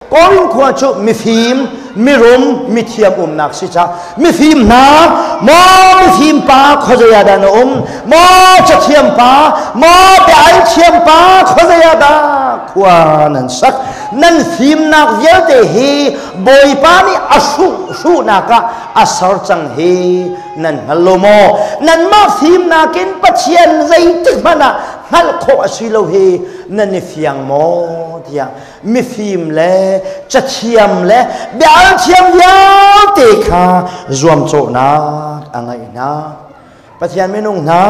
Korin khua cu mifim, mirum, mithiam umnak si ca. Mifim hna, maw mifim pa khuazei ah dah na um? Maw cathiam pa, maw biailthiam pa, khuazei ah dah khua nan sak? Nan fimnak vialte hi Bawipa nih a hruhnak ah a ser cang hi nan hngal lo maw? Nanmah fimnak in Pathian zeitik hmanh ah hngalh khawh a si lo hi nan i fiang maw? tiah mifim le cathiam le bialthiam vialte kha zuamcawhnak a ngeih hna pathian minung hna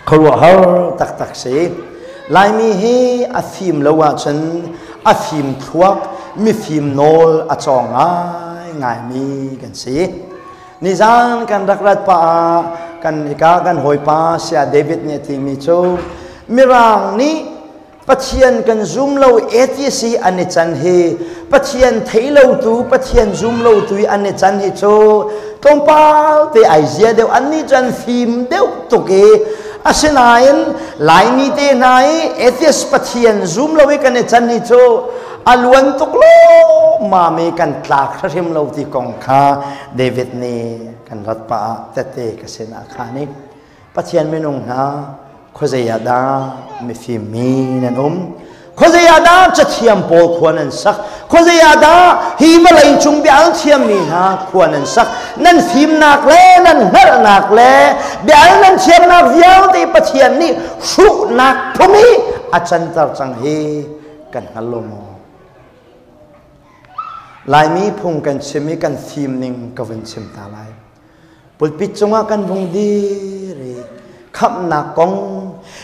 khuaruahhar taktak si laimi hi a fim lo ahcun a fim thluak mifim nawl a cawng ngai ngaimi kan si nizan kan rak rat pa ah kan ika kan hawipa sia david nih a timi cu mirang nih Pathian kan zum lo atheist hi an i can hi Pathian thei lo tu Pathian zum lo tu an i can hi cu tlawmpal te ai zia deuh an nih cun fim deuh tuk i asinain Laimi te hna i atheist Pathian zum lo i kan i can hi cu a luan tuk lawmma mi kan tlak hrim lo ti kong kha David nih kan rat pah ah tete ka sinah kha nih Pathian minung hna khuazei ah dah mifim mi nan um? Khuazei ah dah cathiam pawl khua nan sak? Khuazei ah dah hi malei cung bia an thiammi hna khua nan sak? Nan fimnak le nan hnarhnak le bia nan thiamnak vialte Pathian nih hruhnak phung hi a canter cang hi kan hngal lo maw? Laimi phung kan chim i kan fim ning ka vun chim ta lai. pulpit cungah kan vung dir i khamhnak kong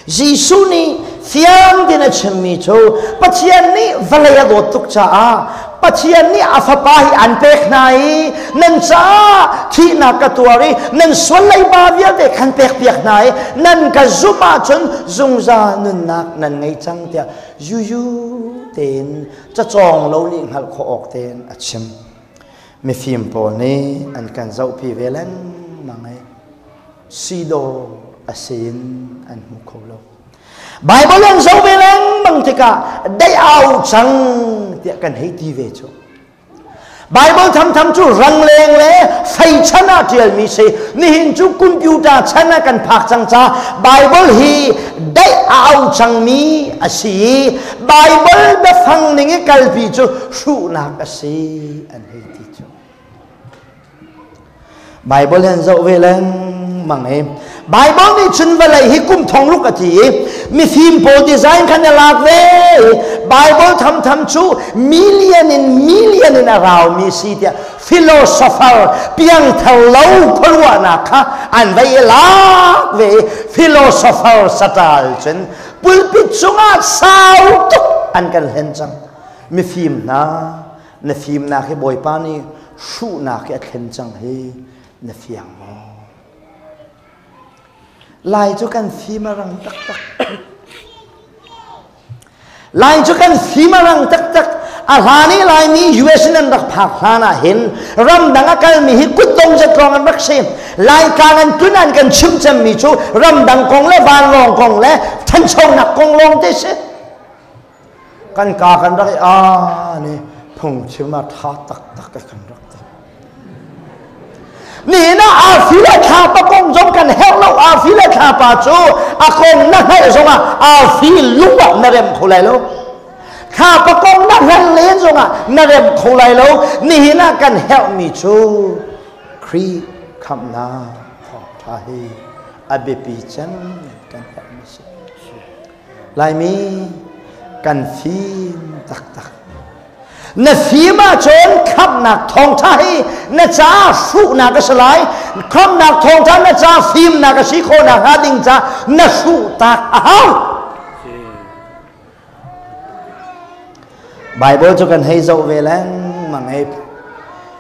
Jesuh nih thiang din a chimmi cu Pathian nih vawlei a dawt tuk caah Pathian nih a fapa hi an pek hna i nan caah thihnak ka tuar i nan sual leiba vialte kan pek piak hna i nan ka zumh ahcun zungzal nunnak nan ngei cang tiah yuyu tein cacawng lo nih hngalh khawh awk tein a chim. mifim pawl nih an kan zohpi ve lengmang i sidaw a si in an hmu kho lo. Baibal an zoh ve lengmang tikah dei au cang tiah kan hei ti ve cu. Bible thamtham cu rangleng le feichan ah ṭialmi si nihin cu computer chan ah kan phak cang ca Bible hi dei au cangmi a si i Bible biafang ning i kalpi cu hruhnak a si an hei ti cu Bible an zoh ve lengmang i Bible nih cun vawlei hi kum thong ruk a ti i mifim pawl design khan a lak ve Bible tham tham cu million in million in a raumi si tiah philosopher piangthar lo khuaruahnak kha an vai i lak ve philosopher satal cun pulpit cungah sau tuk an kan hlen cang mifim hna na fimnak hi Bawipa nih hruhnak hi a thlen cang hi na fiang maw? Lai cu kan fim a rang taktak. Lai cu kan fim a rang taktak. A hlan i Laimi US in an rak phak hlan ah hin ramdang a kalmi hi kutdong zat lawng an rak si. Laitlang an tlun an kan chimh cemmi cu ramdang kong le vanlawng kong le thanchonak kong lawng te si. kan ka kan rak i an i phungchim a ṭha taktak ka kan rak ti nihin ah arfi le thlapa kong zong kan herh lo arfi le thlapa cu a kong na hngaih zongah arfi lung ah na rem kho lai lo thlapa kong na hleng len zongah na rem kho lai lo nihin ah kan herhmi cu Khrih khamhnak thawngṭha hi a biapi cem kan herhmi si Laimi kan fim taktak. Na fim ahcun khamhnak thawngṭha hi na ca hruhnak a si lai. Khamhnak thawngṭha na ca fimnak a si khawhnak hnga ding ca na hruh tak a hau. Bible cu kan hei zoh ve lengmang hei.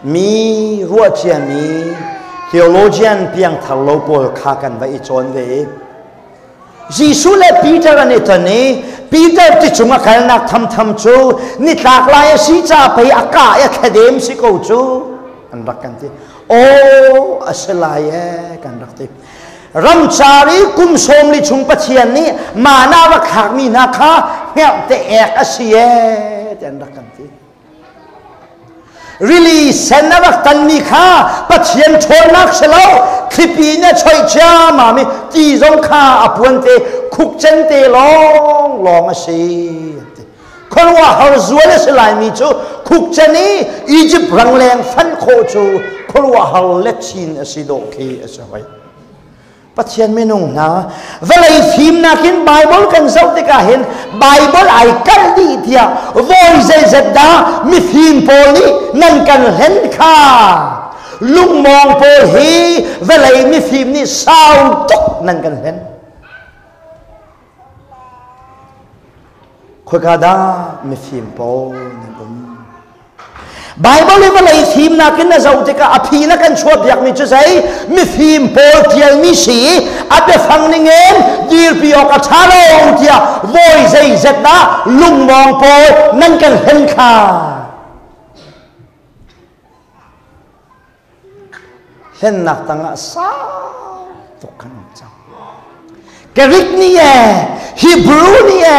Mi ruahcia mi theologian piangthar lo pawl kha kan va i cawn ve i Jesuh le Peter an i ton i Peter ti cung a kalnak thamtham cu nitlak lai a si ca pei a ka i a thladem si ko cu an rak kan ti. Aw a si lai e kan rak ti. Ramcar i kum sawmli chung Pathian nih man ah rak hakmi hna kha hnerh te ek a si e ti an rak kan ti. Rili sen a rak tanmi kha Pathian ṭhawnnak si lo thlipi nih a choih ciammam i ti zong kha a puan te khukcen te lawng lawng a si khuaruahhar zual a si laimi cu khukcen i Egypt rangleng fanh khawh cu khuaruahhar lechin a si dawh khi a si hoi Pathian minung hna vawlei fimnak in Bible kan zoh tikah hin Bible ai kal dih tiah voi zeizat dah mifim pawl nih nan kan hlen kha lungmawng pawl hi vawlei mifim nih sau tuk nan kan hlen Khoika dah mifim pawl nan um? Bible i vawlei fimnak in na zoh tikah a phi na kan chuah biakmi cu zei mifim pawl tialmi si a biafang ningin dirpi awk a ṭha lo tiah voi zeizet dah lungmawng pawl nan kan hlen kha hlennak tangah sau tuk kan um cang. Gerik ni e, Hebrew ni e,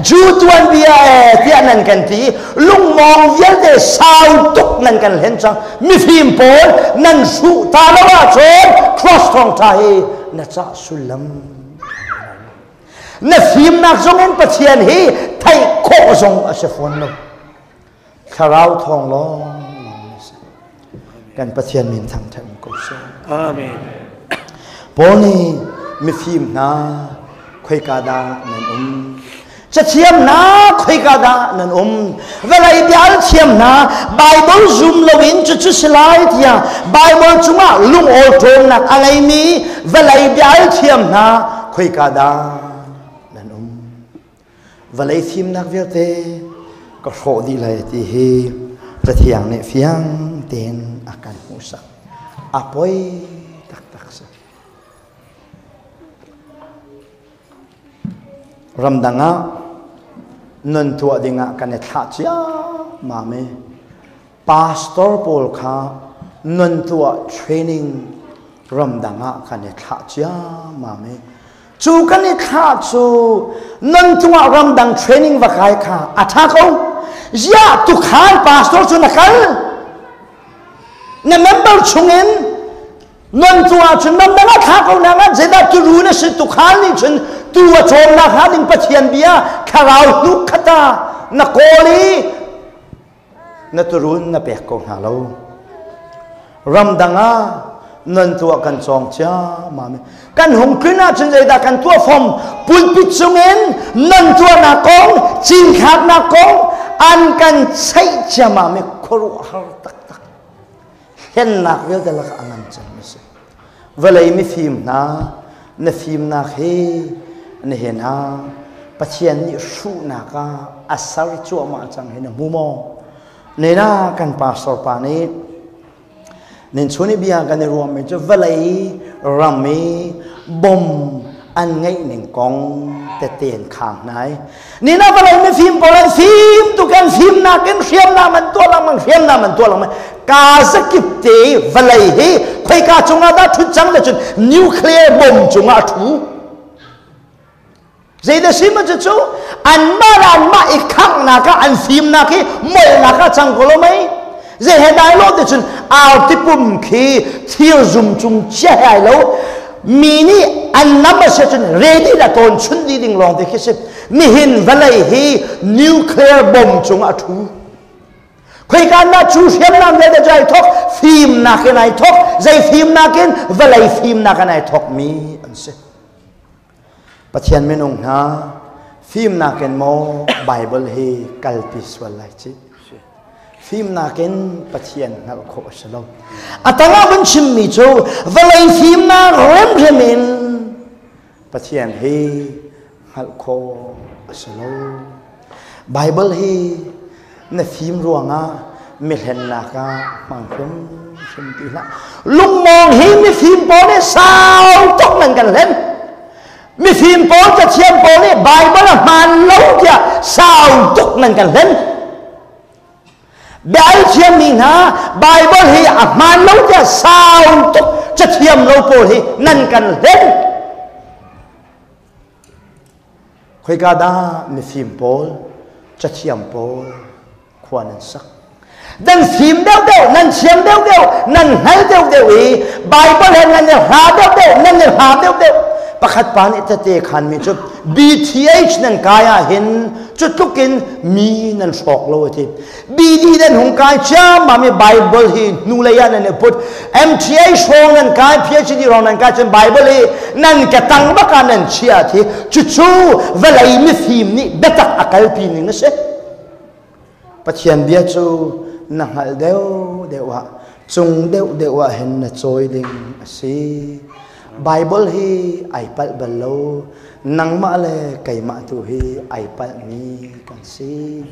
Jew tuanbia e tiah nan kan ti lungmong vialte sau tuk nan kan hlen cang mifim pawl nan hruh ta lo ahcun cross thawng ṭha hi na cah sullam na fimnak zong in Pathian hi theih khawh zong a si fawn lo Thlarau thawng lawng si. Kan Pathian min thangṭhat um ko sih. Amen. Paul nih mifim hna khoika dah nan um? Cathiam hna khoika dah nan um? Vawlei tial thiam hna Bible zoom loin cu cu si lai tiah Bible cungah lungawl ṭawmnak a ngeimi vawlei bial thiam hna khoika dah Vawlei fimnak vialte ka hrawh dih lai ti hi Cathiang nih fiang tein a kan hmuhsak. A poi taktak si. Ramdang ah nun tuah dingah kan i thlah ciammam i pastor pawl kha nan tuah training ramdang ah kan i thlah ciammam i cu kan i thlah cu nan cungah ramdang training va kai kha a tha ko ya tukhal pastor cu na kal na member chungin non cungah cun ramdang ah thla ko nang ah zedah turu na si tukhal nih cun tu a cawm na kha ding pathian bia kharau nu khata na kawl i na turuun na pek ko hna lo. Ramdang ah nan tuah kan cawng ciammam kan hung tlun ahcun zeidah kan tuah fom pulpit chungin nan tuahnak kong cinthlaknak kong an kan cheih ciammam i khuaruah har taktak hlennak vialte lakah a ngan cangmi a si. Vawlei mifim hna, na fimnak hi na he na Pathian nih hruhnak ah a ser cuahmah cang hi na hmu maw? Nena kan pastor pa nih nin chun i bia kan i ruahmi cu vawlei ram i bom an ngeih ning kong tete an khang hnai. Nina palai mi fim pawl an fim tu kan fim nak in hriam na man tua langmang hriam na man tua langmang ka zakip te valai hi khoi ka chunga da thut chang le chun nuclear bomb chunga thu zeide sima chu chu an ma ran ma i khang na ka an fim na ki mol na ka chang ko lo mai Zei he dai lo ti cun artipum khi thir zum cung chia he ai lo mi nih an nam a si cun ready la tawn chun dih ding lawng ti khi si nihin vawlei hi nuclear bomb cung a thu khoi kan na chu hriamnam vialte cu ai thok fimnak in ai thok zei fimnak in vawlei fimnak in ai thok mi an si Pathian minung hna fimnak in maw Baibal hi kalpi sual lai ci fimnak in Pathian hngalh khawh a si lo a tangah vun chimmi cu vawlei fimnak rimrim in Pathian hi hngalh khawh a si lo Baibal hi na fim ruangah mihlennak ah hmang hrimhrim ti hlah. Lungmawng hi mifim pawl nih sau tuk nan kan hlen. Mifim pawl, cathiam pawl nih Baibal a hmaan lo tiah sau tuk nan kan hlen. Bia thiam mi hna Baibal hi a hmaan lo tiah sau tuk cathiam lo pawl hi nan kan hlen. Khoika dah mifim pawl, cathiam pawl khua nan sak? Dan fim deuhdeuh, nan thiam deuhdeuh, nan hngal deuhdeuh i Bible he nan i hla deuhdeuh, nan i hlam deuhdeuh. Pakhat pa nih tete khanmi cu BTH nan kai ahhin cu tlukin mi nan hrawk lo a ti. Bili nan hung kai ciammam i Bible hi hnulei ah nan i put. MTA hrawng nan kai, PhD hrawng nan kai, cun Bible hi nan ke tang bak ah nan chiah thi. Cucu vawlei mifim nih biatak a kalpi ning a si. Pathian bia cu na hngalh deuh deuh ah, cung deuh deuh ah hin na cawi ding a si. Baibal hi ai palh bal lo. Nangmah le keimah tu hi ai palhmi kan si.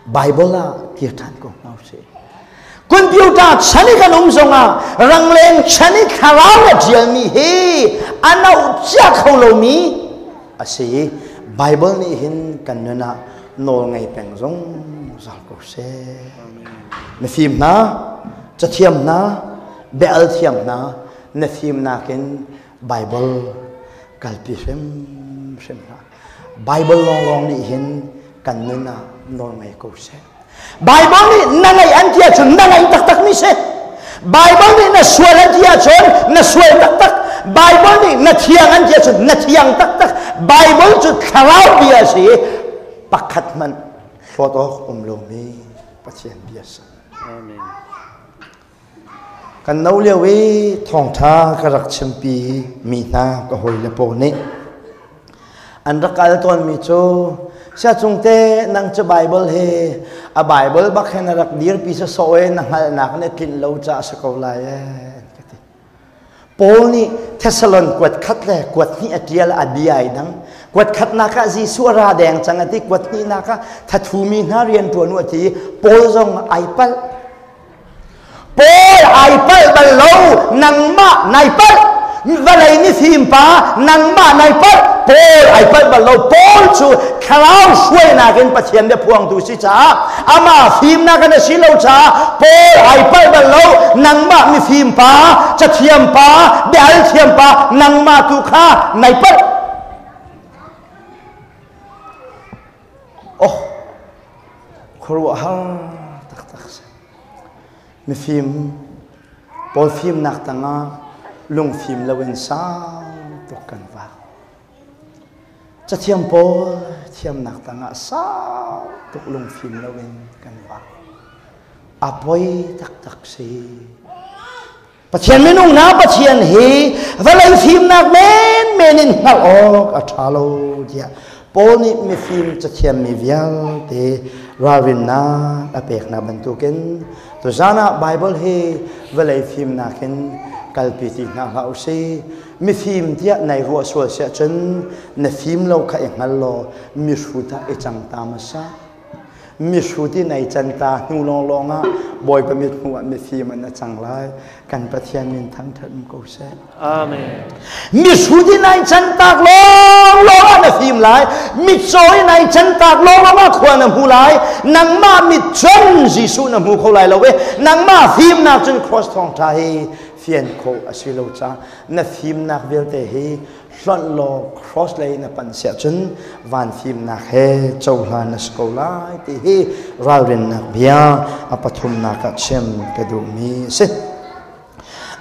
Baibal ah kir ṭhan ko hna usih. Computer chan i kan um zongah rangleng chan i thlarau a ṭialmi hi a nauhcia kho lomi a si. Baibal nih hin kan nun ah nawlngei peng zong zong ko seh. Na fim hna, cathiam hna, Bia-al thiam hna na fimnak in Baibal kalpi hrimhrim hlah. Baibal lawnglawng nih hin kan nun ah nawlngei ko seh. Baibal nih na ngaih an ti ahcun na ngaih taktak mi si. Baibal nih na sual an ti ahcun na sual taktak. Baibal nih na thiang an ti ahcun na thiang taktak. Baibal cu thlarau bia si pakhat hmanh hlawt awk um lomi Pathian bia sa. Amen. Kan no lio i thawngṭha ka rak chimpi mi hna ka hawile pawl nih an rak kal tawnmi cu Siacung te nang cu Baibal hi a Baibal bak hin a rak dirpi sawsawh i na hngalhnak in a tlinh lo caah a si ko lai ee an ka ti. Paul nih Thesalon kuat khat le kuat hnih a ṭial a bia ai dang. Kuat khatnak ah Jesuh a ra deng cang a ti. Kuat hnihnak ah thathumi hna rian ṭuan u a ti. Paul zong ai palh. Paul ai palh bal lo. Nangmah nai palh. Vawlei ni thim pa nangmah nai palh. Paul ai palh bal lo. Paul cu thlarau hruainak in Pathian bia phuangtu si caah amah fimnak in a si lo caah Paul ai palh bal lo nangmah mifim pa cathiam pa biahalthiam pa nangmah tu kha nai palh oh khuaruahhar taktak mifim paul fimnak tangah lungfim loin sang tuk kan va Cathiang pawl thiamnak tangah sau tuk lungfim loin kan vang. A poi taktak si. Pathian minung hna Pathian hi vawlei fimnak menmen in hngalh awk a ṭha lo tiah Paul nih mifim cathiammi vialte ralrinnak a pekna bantukin tuzan ah Bible hi vawlei fimnak in kalpi ti hna hlah u si. mifim tiah nai ruah sual si ahcun na fim lo kha i hngal law mihrut ah i cang ta ma sa mihrut i nai can ta hnu lawnglawng ah bawipa mit hnu ah mifim an a cang lai kan pathian min thangthat ko seh amen mihrut i nai can tak lawnglawng ah na fim lai mitcaw i nai can tak lawnglawng ah khua na hmu lai nangmah mit cun jesuh na hmu kho lai lo e nangmah fimnak cun cross thawng tha hi fian khawh a si lo caah na fimnak vialte hi hlonh law cross lei na panh siah cun van fimnak he cohlan na si ko lai ti hi ralrinnak bia a pathumnak ah chim ka duhmi a si.